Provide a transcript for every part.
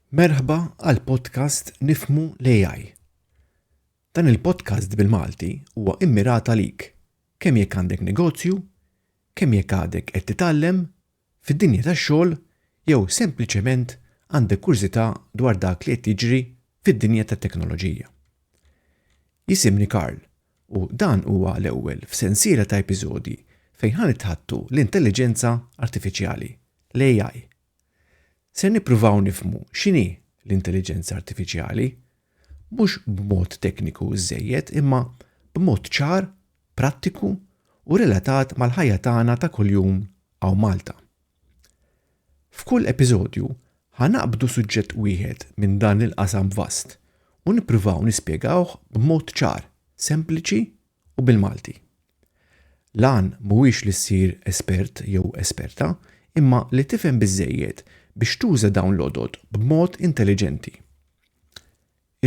Merħba għal podcast Nifmu l-AI. Dan il-podcast bil-Malti huwa immirat għalik kemm jekk għandek negozju, kemm jekk għadek qed titgħallem fid-dinja tax-xogħol jew sempliċement għandek kurżità dwar dak li qed jiġri fid-dinja tat-teknoloġija. Jisimni Karl u dan huwa l-ewwel f'sensiela ta' episodji fejn ħa nitħaddtu l-intelliġenza artifiċjali, l-AI. Se nippruvaw nifhmu x'inhi l-intelliġenza artifiċjali, mhux b'mod tekniku żżejjed imma b'mod ċar, prattiku u relatat mal-ħajja tagħna ta' kuljum hawn Malta. F'kull episodju ħa naqbdu suġġett wieħed minn dan il-qasam vast u nippruvaw nispjegawh b'mod ċar, sempliċi u bil-Malti. L-għan mhuwiex li ssir espert jew esperta imma li tifhem biżżejjed biex tuża dawn l-għodod b'mod intelliġenti.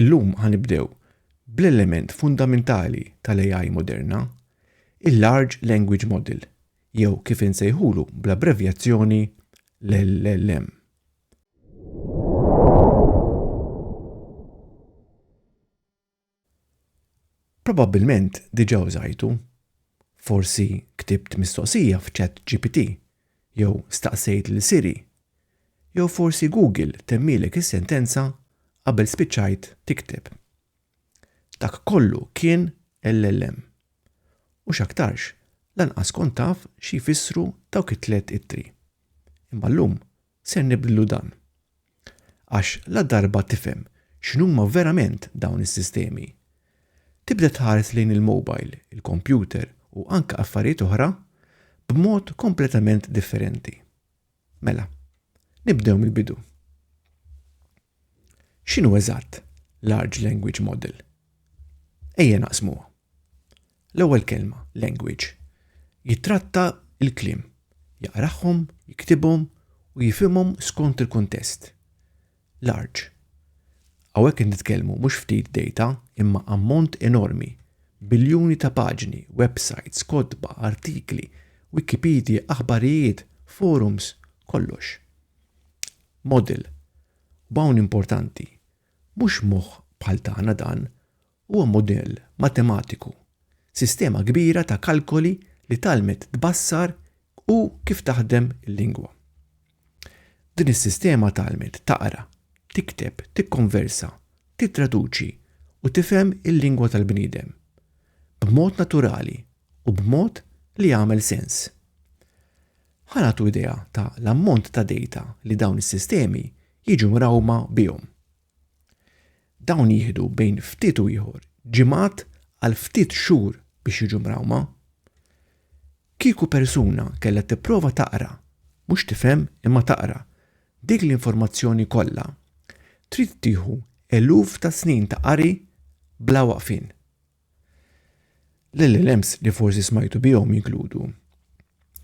Illum ħa nibdew bl-element fundamentali tal-AI moderna, il-Large Language Model, jew kif insejħulu bl-abbrevjazzjoni LLM. Probabbilment diġà użajtu. Forsi ktibt mistoqsija f'ChatGPT jew staqsejt lil Siri. Jew forsi Google temmielek is-sentenza qabel spiċċajt tikteb. Dak kollu kien LLM. U x'aktarx, lanqas kont taf xi jfissru dawk it-tliet ittri. Imma llum Ser nibdlu dan. Għax ladarba tifhem x'inhuma verament dawn is-sistemi, tibda tħares lejn il-mobile, il-kompjuter u anke affarijiet oħra b'mod kompletament differenti. Mela, nibdew mill-bidu. X'inhu eżatt large language model? Ejja naqsmuha. L-ewwel kelma, language, jittratta l-kliem, jaqrahom, jiktibhom u jifhimhom skont il-kuntest. Large. Hawnhekk qed nitkellmu mhux ftit data imma ammont enormi, biljuni ta' paġni, websites, kotba, artikli, Wikipedia, aħbarijiet, forums, kollox. Model, B'hawn importanti, mhux moħħ bħal tagħna dan, huwa mudell matematiku, sistema kbira ta' kalkoli li tgħallmet tbassar u kif taħdem il-lingwa. Din is-sistema tgħallmet taqra, tikteb, tikkonversa, tittraduċi u tifhem il-lingwa tal-bniedem, b'mod naturali u b'mod li jagħmel sens. Ħa nagħtu idea ta' l-ammont ta' dejta li dawn is-sistemi jiġu mrawma bihom. Dawn jieħdu bejn ftit u ieħor ġimgħat għal ftit xhur biex jiġu mrawma. Kieku persuna kellha tipprova taqra, mhux tifhem imma taqra, dik l-informazzjoni kollha, trid tieħu eluf ta' snin ta' qari bla waqfien. L-LLMs li forsi smajtu bihom jinkludu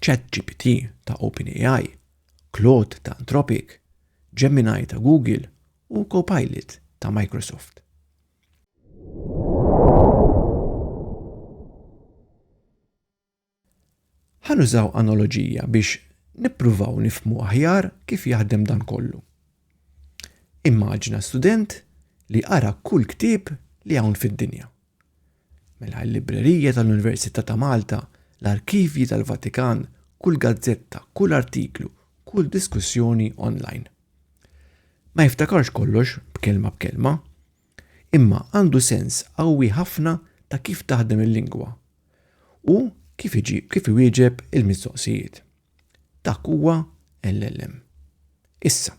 ChatGPT ta' OpenAI, Claude ta' Anthropic, Gemini ta' Google u Copilot ta' Microsoft. Ħa nużaw analoġija biex nippruvaw nifhmu aħjar kif jaħdem dan kollu. Immaġina student li qara kull ktieb li hawn fid-dinja. Mela l-librerija tal-Università ta' Malta, l-arkivji tal-Vatikan, kull gazzetta, kull artiklu, kull diskussjoni online. Ma jiftakarx kollox b'kelma b'kelma, imma għandu sens qawwi ħafna ta' kif taħdem il-lingwa u kif iġib kif iwieġeb il-mistoqsijiet. Dak huwa LLM. Issa,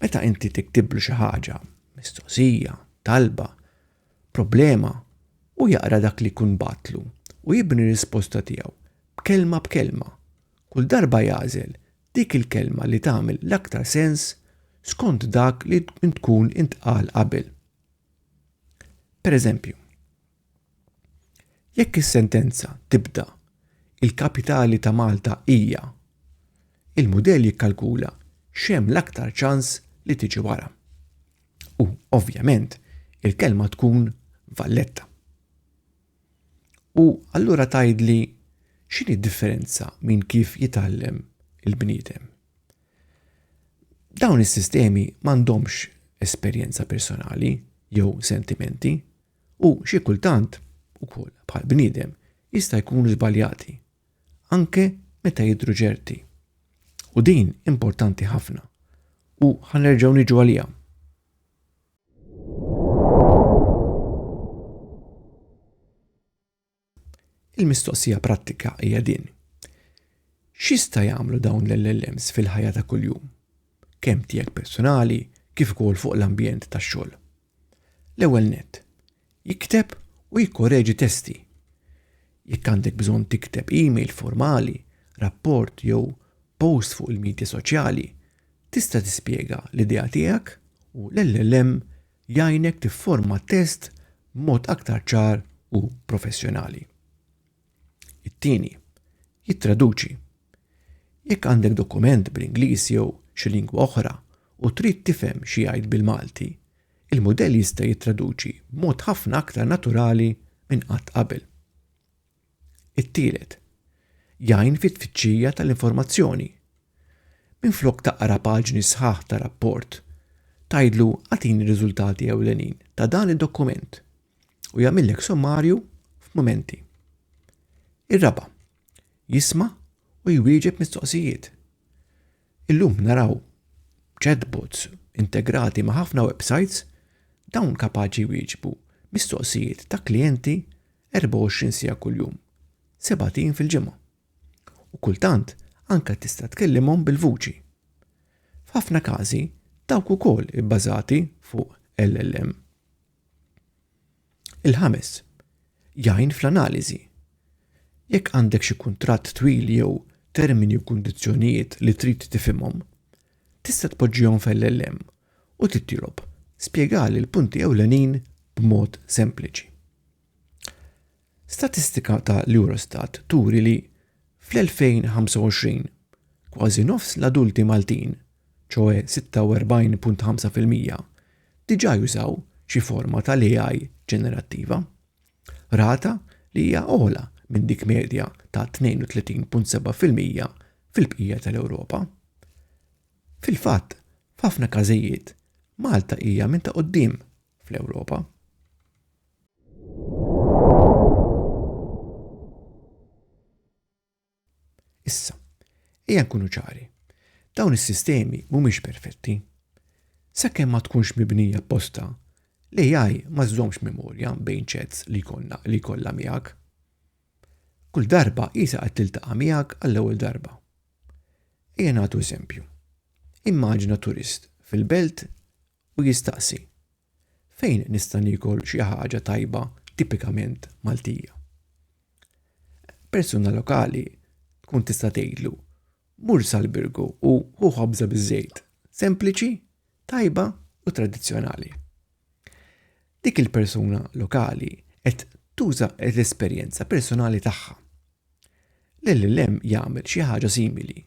meta inti tiktiblu xi ħaġa, mistoqsija, talba, problema, u jaqra dak li kun batlu u jibni risposta tiegħu b'kelma b'kelma. Kull darba jagħżel dik il-kelma li tagħmel l-aktar sens skont dak li tkun intqal qabel. Pereżempju, jekk is-sentenza tibda il-kapitali ta' Malta hija, il-mudell jikkalkula x'hemm l-aktar ċans li tiġi wara. U, ovvjament, il-kelma tkun Valletta. U allura tgħidli x'inhi d-differenza minn kif jitgħallem il-bniedem? Dawn is-sistemi m'għandhomx esperjenza personali jew sentimenti u xi kultant ukoll bħal bniedem jista' jkunu żbaljati anke meta jidhru ċerti. U din importanti ħafna u ħanerġgħu niġu għaliha. Il-mistoqsija prattika hija din. X'jista' jagħmlu dawn l-LLMs fil-ħajja ta' kuljum? Kemm tiegħek personali kif ukoll fuq l-ambjent tax-xogħol. L-ewwel nett, Jikteb u jikkoreġi testi. Jekk għandek bżonn tikteb email formali, rapport jew post fuq il-midja soċjali, tista' tispjega l-idea tiegħek u l-LLM jgħinek tifforma t-test b'mod aktar ċar u professjonali. It-tieni, jittraduċi. Jekk għandek dokument bl-Ingliż jew xi lingwa oħra u trid tifhem xi jgħid bil-Malti, il-mudell jista' jittraduċi b'mod ħafna aktar naturali minn qatt qabel. It-tielet, jgħin fit-tfittxija tal-informazzjoni. Minflok taqra paġni sħaħ ta' rapport, tgħidlu għatini riżultati ewlenin ta' dan id-dokument u jagħmillek sommarju f'mumenti. Ir-raba' jisma' u jwieġeb mistoqsijiet. Illum naraw chatbots integrati ma' ħafna websites dawn kapaċi jwieġbu mistoqsijiet ta' klijenti 24 sija kuljum, sebatin fil-ġimgħa. U kultant anke tista' tkellimhom bil-vuċi. F'ħafna każi dawk ukoll ibbażati fuq LLM. Il-ħames, jgħin fl-analiżi. Jekk għandek xi kuntratt twil jew termini u kundizzjonijiet li trid tifhimhom, tista' tpoġġihom fl-LLM u tittilob spjegali l-punti ewlenin b'mod sempliċi. Statistika ta' l-Eurostat turi li fl-2025 kważi nofs l-adulti Maltin, ċoe 46.5 fil-mija, diġà jużaw xi forma ta' l-AI ġenerattiva, rata li hija ogħla minn dik medja ta' 32.7 fil-mija fil-bqija ta' l-Ewropa. Fil-fatt, f'ħafna każijiet, Malta hija minn ta' quddiem fl-Ewropa. Issa, ejja nkunu ċari. Dawn is-sistemi mhumiex perfetti. Sakemm ma tkunx mibnija apposta, l-AI ma żżommx memorja bejn ċets li jkollna li jkollha miegħek. Kull darba isa qed tiltaqa' miegħek għall-ewwel darba. Ejja nagħtu eżempju. Immaġina turist fil-belt u jistaqsi, Fejn nista' niekol xi ħaġa tajba tipikament Maltija? Persuna lokali tkun tista' tgħidlu, mur sal-birgu u hu ħobża biż-żejt, sempliċi, tajba u tradizzjonali. Dik il-persuna lokali qed tuża l-esperjenza personali tagħha. L-LLM jagħmel xi ħaġa simili,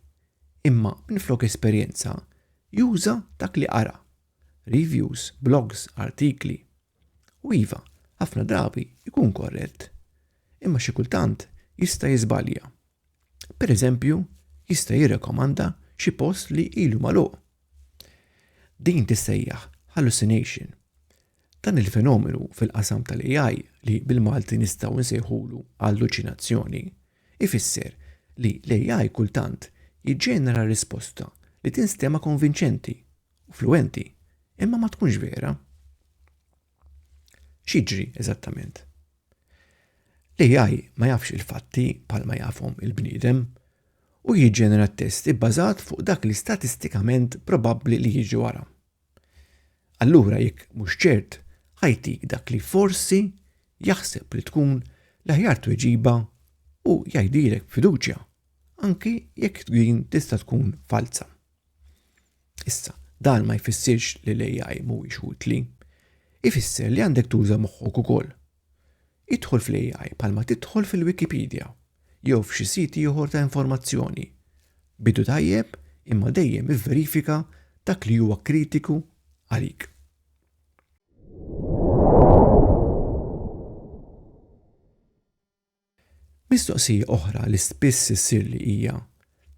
imma minflok esperjenza juża dak li qara. reviews, blogs, artikli. U iva, ħafna drabi jkun korrett, imma xi kultant jista' jiżbalja. Per eżempju, jista' jirrekomanda xi post li ilu magħluq. Din tissejjaħ hallucination. Dan il-fenomenu fil-qasam tal-AI li bil-Malti nistgħu nsejħulu alluċinazzjoni ifisser li l-AI kultant jiġġenera risposta li tinstema konvinċenti u fluwenti, imma ma tkunx vera. X'jiġri eżattament? L-AI ma jafx il-fatti bħal ma jafhom il-bniedem u jiġġenera test ibbażat fuq dak li statistikament probabbli li jiġi wara. Allura jekk mhux ċert, ħajtik dak li forsi jaħseb li tkun l-aħjar tweġiba u jgħidilek b'fiduċja, anki jekk din tista' tkun falza. Issa, dan ma jfissirx li l-AI mhuwiex utli. Ifisser li għandek tuża moħħok ukoll. Idħol fl-AI bħalma tidħol fil-Wikipedia jew f'xi sit ieħor ta' informazzjoni. Bidu tajjeb imma dejjem ivverifika dak li huwa kritiku għalik. Mistoqsija oħra li spiss issirli hija,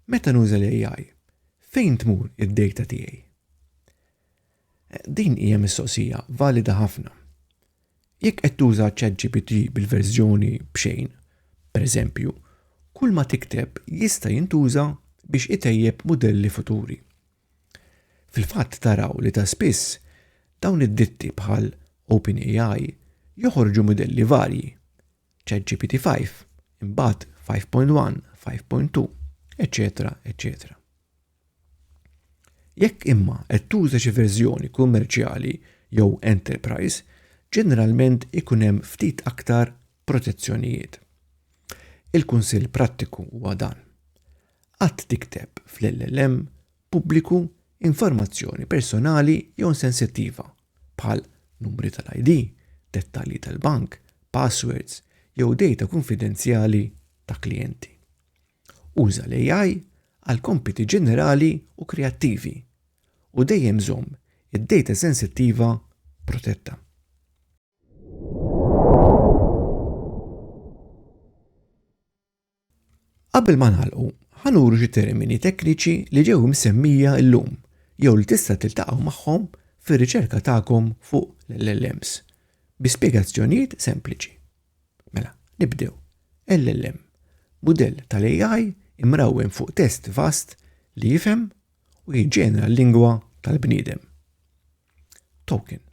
Meta nuża l-AI, fejn tmur id-dejta tiegħi? Din hija mistoqsija valida ħafna. Jekk qed tuża ChatGPT bil-verżjoni b'xejn, pereżempju, kulma tikteb jista' jintuża biex itejjeb mudelli futuri. Fil-fatt taraw li ta' spiss dawn id-ditti bħal OpenAI joħorġu mudelli varji, ChatGPT-5, imbagħad 5.1, 5.2, eċċetera eċċetera. Jekk imma qed tuża xi verżjoni kummerċjali jew enterprise, ġeneralment ikun hemm ftit aktar protezzjonijiet. Il-kunsill prattiku huwa dan. Qatt tikteb fl-LLM pubbliku informazzjoni personali jew sensittiva, bħal numri tal-ID, dettalji tal-bank, passwords jew dejta kunfidenzjali ta' klijenti. Uża l-AI għal kompiti ġenerali u kreattivi u dejjem żomm id-dejta sensittiva protetta. Qabel ma nagħlqu, ħa nuru xi termini tekniċi li ġew imsemmija llum jew li tista' tiltaqgħu magħhom fir-riċerka tagħkom fuq l-LLMs bi spjegazzjonijiet sempliċi. Mela, nibdew. LLM, mudell tal-AI imrawwem fuq test vast li jifhem u jiġġenera l-lingwa tal-bniedem. Token,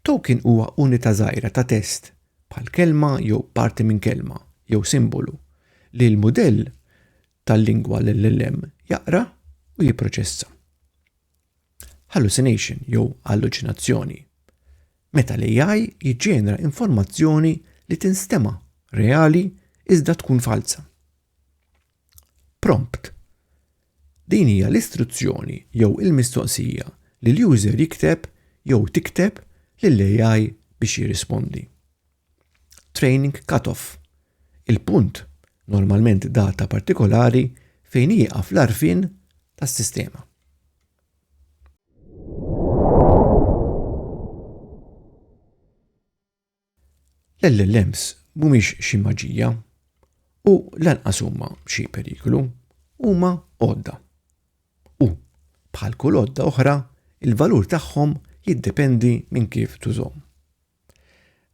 Token huwa unità żgħira ta' test, bħal kelma jew parti minn kelma jew simbolu, li l-mudell tal-lingwa LLM jaqra u jipproċessa. Hallucination jew alluċinazzjoni, Meta l-AI jiġġenera informazzjoni li tinstema' reali iżda tkun falza. Prompt Din hija l-istruzzjoni jew il-mistoqsija li l-user jikteb jew tikteb lill-AI biex jirrispondi. Training Cutoff Il-punt, normalment data partikolari, fejn jieqaf l-għarfien tas-sistema. L-LLMs mhumiex xi maġija u lanqas huma xi periklu, huma għodda. U, bħal kull għodda oħra, il-valur tagħhom jiddependi minn kif tużhom.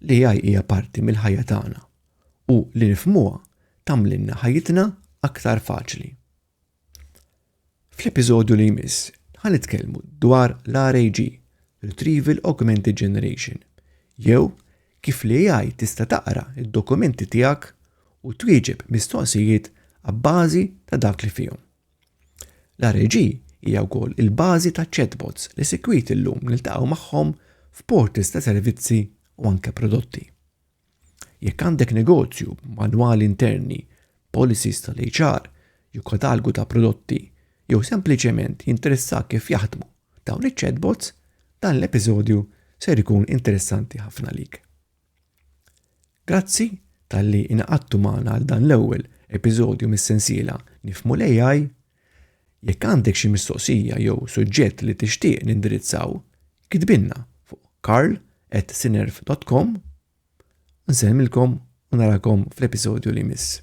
L-AI hija parti mill-ħajja tagħna u li nifhmuha tagħmlilna ħajjitna aktar faċli. Fl-episodju li jmiss, ħan nitkellmu dwar l-RAG, Retrieval Augmented Generation, jew kif li AI tista' taqra id-dokumenti tiegħek u twieġeb mistoqsijiet għabbażi ta' dak li fihom. L-RAG hija wkoll il-bażi ta' chatbots li sikwit illum niltaqgħu magħhom f'portals ta' servizzi u anke prodotti. Jekk għandek negozju b'manwali interni, policies tal-HR, jew katalgu ta' prodotti, jew sempliċement jinteressak kif jaħdmu dawn iċ-chatbots, dan l-episodju ser ikun interessanti ħafna lik. Grazzi talli inaqadtu magħna għal dan l-ewwel episodju mis-sensiela Nifmu l-AI Jekk għandek xi mistoqsija jew suġġett li tixtieq nindirizzaw, kitbilna fuq karl@sinerv.com u nsellmilkom u narakom fl-episodju li jmiss.